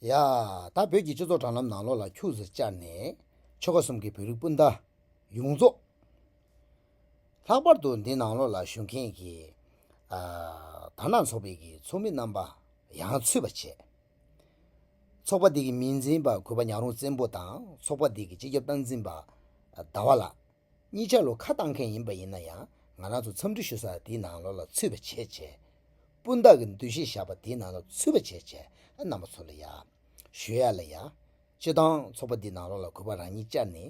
ཡ། ད་བོད་ཀྱི་སྤྱི་ཚོགས་དྲ་ལམ་ནང་ལོག་ལ་འཁྱུགས་ཟེར་བཅར་ནས། ཆོལ་ཁ་གསུམ་གྱི་བོད་རིགས་སྤུན་ཟླ། ཡོངས་རྫོགས། ལྷག་པར་དུ་འདི་ནང་ལོག་ལ་བཞུགས་མཁན་གྱི། དར་ནག་ཚོགས་པའི་གི་ཚོགས་མི་རྣམ་པ། ཡང་ཚུད་པ་བྱས། ཚོགས་པ་འདི་གི་མི་འཛིན་པ་གུས་པ་ཉག་རོང་བཙན་པོ་དང་ཚོགས་པ་འདི་གི་སྤྱི་ཁྱབ་སྟངས་འཛིན་པ་ཟླ་བ་ལགས། གཉིས་ཆ་ལོ་ཁ་བཏང་མཁན་ཡིན་པ་ཡིན་ན་ཡང་ང་རང་ཚོ་འཚམས་འདྲི་ཞུ་ས་འདི་ནང་ལོགས་ལ་ཚུད་པ་བྱེད་བྱས། སྤུན་བདག་གི་འདུ་ཤེས་བཞག་པ་འདི་ནང་ལོགས་ཚུད་པ་བྱེད་བྱས་རྣམ་པ་ཚོ་ལ་ཡ། ཞུ་ཡ་ལ་ཡ། སྤྱི་བཏང་ཚོགས་པ་འདི་ནང་ལོགས་ལ་གུས་པ་རང་ཉིད་བཅར་ནས།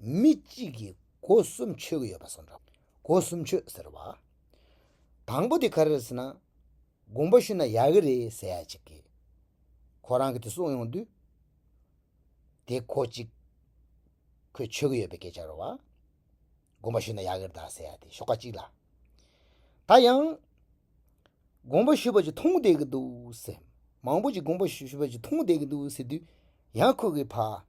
མི་གཅིག་གིས་སྒོ་གསུམ་ཆོད་ཀྱི་ཡོད་པ་སོགས་འདྲ། སྒོ་གསུམ་ཆོད་ཟེར་བ་དང་པོ་དེ་ག་རེ་རེད་ཟེར་ན། དགོངས་པ་ཞུས་ན་ཡག་གི་རེད་ཟེར་ཡ་གཅིག་གིས། ཁོ་རང་གིས་དེ་གསུངས་ཡོང་དུས། དེ་གོ་གཅིག། ཁོས་ཆོད་ཀྱི་ཡོད་པའི་སྐད་ཆ་རེད་བ། དགོངས་པ་ཞུས་ན་ཡག་གི་རེད་ཟེར་ཡ་དེ་ཤོག་ཁག་གཅིག་ལ། ད་ཡང། དགོངས་པ་ཞུས་པ་གཅིག་མཐོང་བསྡད་ཀྱི་འདུག་ཟེར། མང་པོ་ཞིག་དགོངས་པ་ཞུས་པ་གཅིག་མཐོང་བསྡད་ཀྱི་འདུག་ཟེར་དུས། ཡང་ཁོ་གིས་ཕ།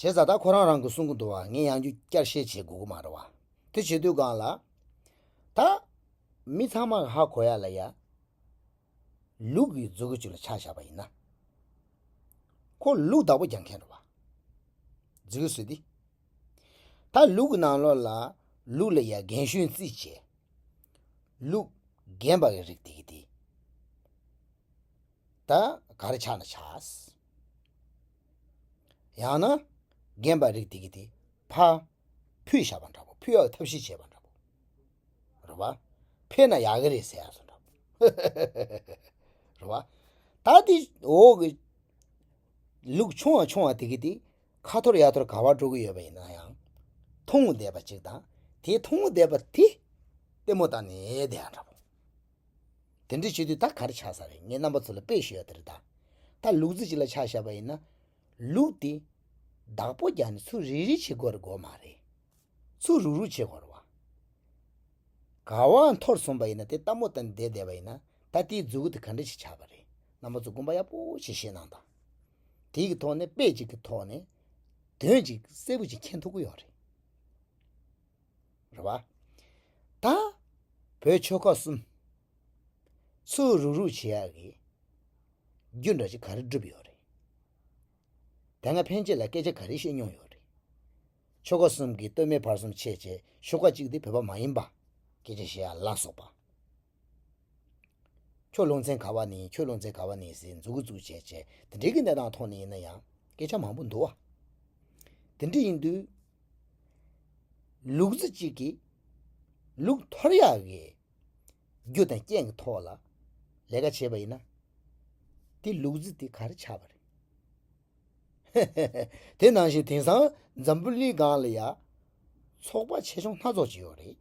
བྱས་ཙང་ད་ཁོ་རང་རང་གི་གསུང་གི་འདུག་བ་ངས་ཡང་རྒྱུ་བསྐྱར་བཤད་བྱེད་དགོས་ཀྱི་མ་རེད་བ། དེ་བྱེད་དུས་གང་ལ། ད། མི་ཚང་མ་ཧ་གོ་ཡ་ལ་ཡ། ལུག་གི་རྫུ་གུ་ཅིག་ལ་ཆགས་བཞག་པ་ཡིན་ན། ཁོ་ལུག་བདག་པོ་རྒྱག་མཁན་རེད་བ། རྫི་གུ་ཟེར་དེ། ད་ལུག་གི་ནང་ལོགས་ལ་ལུག་ལ་ཡ་རྒན་གཞོན་རྩིས་བྱས། ལུག་རྒན་པ་གི་རིགས་དེ་གི་དེ། ད་ག་རེ་ཆགས་ན་ཆགས། ཡང་ན། རྒན་པ་རིགས་དེ་གི་དེ་ཕ། ཕུད་བཞག་པ་འདྲ་པོ་ཕུད་ཡག་ཐབས་ཤེས་བྱས་པ་འདྲ་པོ། རོ་བ། ཕེ་ན་ཡག་གི་རེད་ཟེར་ཡག་སོ་འདྲ་པོ། ཧཧཧཧ་རོ་བ། ད་དེ་འོག་གི། ལུག་ཆུང་བ་ཆུང་བ་དེ་གི་དེ། ཁ་ཐོར་ཡ་ཐོར་ག་བར་འགྲོ་གི་ཡོད་པ་ཡིན་ན་ཡང། ཐུང་ངུ་བསྡད་པ་གཅིག་དང་དེ་ཐུང་ངུ་བསྡད་པ་དེ། ལྟད་མོ་བལྟ་ནས་བསྡད་ཡག་འདྲ་པོ། དེ་འདྲ་བྱེད་དུས་ད་གར་ཆགས་ས་རེད་ངས་རྣམ་པ་ཚོ་ལ་དཔེ་ཞུ་ཡ་དེ་རེད་ད། ད་ལུག་རྫི་ཅིག་ལ་ཆགས་ཞབས་པ་ཡིན་ན། ལུག་དེ། བདག་པོ་རྒྱག་ནས་ཚུར་རིལ་རིལ་བྱེད་དགོས་རེད་དགོས་མ་རེད། ཚུར་རུག་རུག་བྱེད་དགོས་རེད། ག་བ་འཐོར་སོང་པ་ཡིན་ན་དེ་ལྟ་མོ་ལྟ་བསྡད་བསྡད་པ་ཡིན་ན་ད་དེའི་རྫུ་གུ་དེ་ག་འདྲ་ཞིག་ཆགས་པ་རེད་རྣམ་པ་ཚོ་དགོངས་པ་ཡག་པོ་ཞིག་བཞེས་གནང་དང། དེའི་གི་ཐོག་ནས་དཔེ་ཅིག་གི་ཐོག་ནས། དོན་ཅིག་གསལ་པོ་ཅིག་མཁྱེན་ཐུབ་ཀི་ཡོད་རེད། རེ་བ། ད། བོད་ཆོལ་ཁ་གསུམ། ཚུ་རུག་རུག་བྱེད་ཡག་གི། རྒྱུ་འདྲ་ཅིག་ག་རེ་བསྒྲུབས་ཡོད་རེད། དེ་སྔ་ཕན་ཆད་ལ་སྐད་ཆ་ག་རེ་བཤད་མྱོང་ཡོད་རེད། ཆོལ་ཁ་གསུམ་གི་སྟོད་སྨད་བར་གསུམ་ཆེད་ཆེད་ཤོ་ཀ་གཅིག་འདི་བོད་པ་མ་ཡིན་པ། སྐད་ཆ་བཤད་ཡག་ལ་སོགས་པ། ཁྱོད་ལུང་ཚན་ག་བ་ནས་ཡིན་ཁྱོད་ལུང་ཚན་ག་བ་ནས་ཡིན་ཟེར་འཛུགས་འཛུགས་བྱས་བྱས་དེ་འདྲའི་གནས་སྟངས་ཐོག་ནས་ཡིན་ན་ཡང་སྐད་ཆ་མང་པོ་འདུག་བ། དེ་འདྲ་ཡིན་དུས། ལུག་རྫི་གཅིག་གིས་ལུག་ཐོར་ཡག་གི་རྒྱུ་དང་རྐྱེན་གྱི་ཐོག་ལ་ལས་ཀ་བྱས་པ་ཡིན་ན། དེ་ལུག་རྫི་དེ་ག་རེ་ཆགས་པ་རེད། ཧེ་ཧེ་ཧེ་དེ་ནང་བཞིན་དེང་སང་འཛམ་བུ་གླིང་སྒང་ལ་ཡ། ཚོགས་པ་ཆེ་ཆུང་སྣ་ཚོགས་ཀྱི་ཡོད་རེད།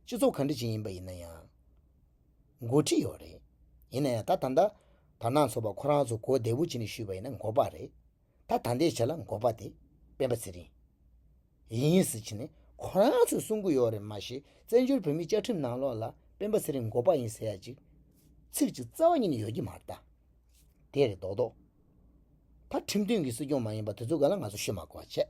སྤྱི་ཚོགས་གང་འདྲ་ཅིག་ཡིན་པ་ཡིན་ན་ཡང། འགོ་ཁྲིད་ཡོད་རེད། ཡིན་ན་ཡང་ད་ད། དར་ནག་ཚོགས་པ་ཁོ་རང་ཚོ་གོ་བདེ་བོ་བྱེད་ནས་བཞུད་པ་ཡིན་ན་འགོ་པ་རེད། ད་ད་འདས་ཆ་ལ་འགོ་པ་དེ་སྤེན་པ་ཚེ་རིང། ཡིན་ཡིན་ཟེར་གྱི་ནས་ཁོ་རང་ཚོས་གསུང་གི་ཡོད་རེད་མ་གཞི་བཙན་བྱོལ་བོད་མིའི་བཅའ་ཁྲིམས་ནང་ལོགས་ལ་སྤེན་པ་ཚེ་རིང་འགོ་པ་ཡིན་ཟེར་ཡ་ཅིག། ཚིག་ཅིག་རྩ་བ་ཉིད་ནས་ཡོད་ཀྱི་མ་རེད་ད། དེ་རེད་མདོག་མདོག། ད་ཁྲིམས་མཐུན་གྱི་སྲིད་སྐྱོང་མ་ཡིན་པ་དེ་ཚོ་ག་ལ་ང་ཚོ་བཤོད་མ་གོ་བ་བྱས།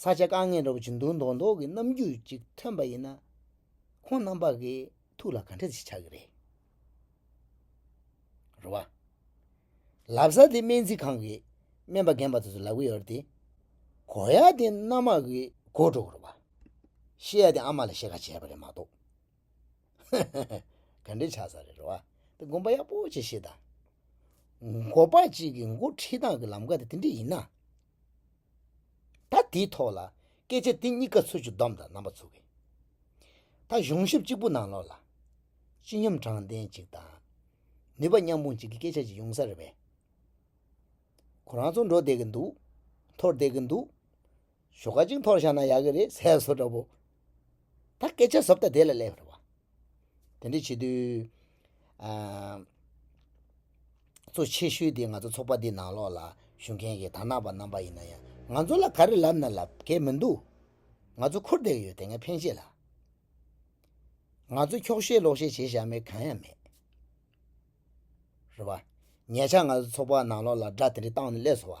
ས་ཆ་དཀའ་ངལ་སྒྲོག་ཅིང་འདུག་མདོག་མདོག་གི་རྣམ་འགྱུར་ཅིག་ཐོན་པ་ཡིན་ན། ཁོང་རྣམ་པ་གི་ཐུགས་ལ་ག་འདྲ་ཞིག་ཆགས་ཀྱི་རེད། རེད་བ། ལབ་ས་དེ་སྨན་རྩིས་ཁང་གི་སྨན་པ་རྒན་པ་དེ་ཚོ་ལབ་ཀྱི་ཡོད་རེད་དེ། གོ་ཡ་དེ་མནའ་མ་གི་སྒོ་སྒྲོག་རེད་བ། ཤེས་ཡ་དེ་ཨ་མ་ལ་བཤད་ཁ་བྱས་པ་རེད་མ་གཏོགས། ཧ་ཧ་ཧ། ག་འདྲའི་ཆགས་ས་རེད་རེད་བ། དེ་དགོངས་པ་ཡག་པོ་ཅིག་བཞེས་དང། འགོ་པ་ཅིག་གི་འགོ་ཁྲིད་སྟངས་ཀྱི་ལམ་ཀ་དེ་དེ་འདྲ་ཡིན་ན། ད་དེའི་ཐོག་ལ་སྐད་ཆ་དེ་གཉིས་ཀ་ཚུར་ཅིག་བསྡོམས་དང་རྣམ་པ་ཚུར་གྱིས་ད་གཞུང་ཞབས་གཅིག་པུ་ནང་ལོགས་ལ། སྤྱི་སྙོམས་དྲང་བདེན་གཅིག་དང། ནུས་པ་མཉམ་སྤུངས་གཅིག་གི་སྐད་ཆ་ཅིག་ཡོང་ས་རེད་པས། ཁོ་རང་ཚོ་འགྲོ་བསྡད་ཀྱི་འདུག་འཐོར་བསྡད་ཀྱི་འདུག། ཞོགས་ཀ་གཅིག་འཐོར་བཞག་ན་ཡག་གི་རེད་ཟེར་བ་སོགས་འདྲ་པོ། ད་སྐད་ཆ་ཟབ་ད་དེ་ལ་ལས་པར་བ། དེ་འདྲ་བྱེད་དུས། གཙོ་ཆེ་ཤོས་དེ་ང་ཚོ་ཚོགས་པ་འདི་ནང་ལོགས་ལ་ཞུགས་མཁན་གྱི་དར་ནག་པ་རྣམ་པ་ཡིན་ན་ཡང་ང་ཚོ་ལ་ག་རེ་ལབ་ན་ལབ་གལ་མི་འདུག་ང་ཚོ་འཁོར་བསྡད་ཀྱི་ཡོད་དེ་སྔའི་ཕན་ཆད་ལ། ང་ཚོ་འཁྱོག་བཤད་ལོག་བཤད་བྱེད་བཞག་མེད་གང་ཡང་མེད། རེད་བ། ཉེ་ཆར་ང་ཚོ་ཚོགས་པ་ནང་ལོགས་ལ་སྒྲ་དེ་འདྲ་བཏང་ནས་སླེབས་སོ་བ།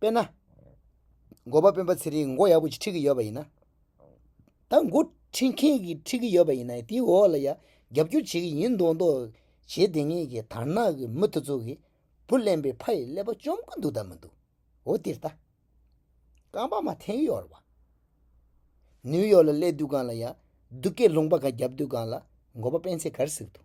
དཔེར་ན། མགོ་པ་སྤེན་པ་ཚེ་རིང་མགོ་ཡག་པོ་ཞིག་ཁྲིད་ཀྱི་ཡོད་པ་ཡིན་ན། ད་མགོ་ཁྲིད་མཁན་གྱིས་ཁྲིད་ཀྱི་ཡོད་པ་ཡིན་ན་དེའི་འོག་ལ་ཡང་རྒྱབ་སྐྱོར་བྱེད་ཀྱི་ཡིན་མདོག་མདོག་བྱེད་བདེ་ངེས་ཀྱི་དར་ནག་གི་མུ་ཐུ་ཚོགས་ཀྱིས་བུ་གླེན་པའི་ཕ་ཡི་ཀླད་པ་བཅོམ་གྱི་འདུག་ད་མི་འདུག་འོ་དེར་ལྟ། རྐང་པ་མ་འཐེན་ཡོར་བ། ནིའུ་ཡོག་ལ་སླེབས་དུས་གང་ལ་ཡང་སྡུག་སྐད་ལུང་པ་ག་རྒྱབ་དུས་གང་ལ་མགོ་པ་སྤེན་ཚེ་གར་ཟིག་འདུག་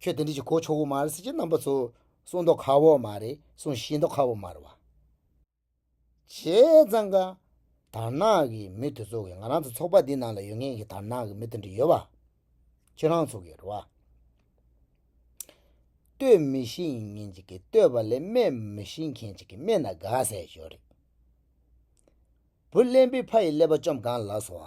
ཁྱོད་དེ་འདྲས་ཀྱི་གོ་ཆོག་བོ་མ་རེད་ཟེར་གྱི་རྣམ་པ་ཚོ་གསུང་མདོག་ཁ་བོ་མ་རེད་གསུང་བཞིན་མདོག་ཁ་བོ་མ་རེད་བ། བྱས་ཙང་ཀ། དར་ནག་གི་མི་དེ་ཚོ་གིས་ང་རང་ཚོ་ཚོགས་པ་འདི་ནང་ལ་ཡོད་མཁན་གྱི་དར་ནག་གི་མི་དེ་འདྲ་ཡོད་བ། ཁྱོད་རང་ཚོ་གིས་རེད་བ། ལྟོས་མི་ཤེས་མཁན་ཅིག་གིས་ལྟོས་པ་ལས་སྨད་མི་ཤེས་མཁན་ཅིག་གིས་སྨད་ན་དགའ་ཟས་ཞོར་རེད། བུ་གླེན་པོའི་ཕ་ཡི་ཀླད་པ་བཅོམ་གང་ལགས་སོ།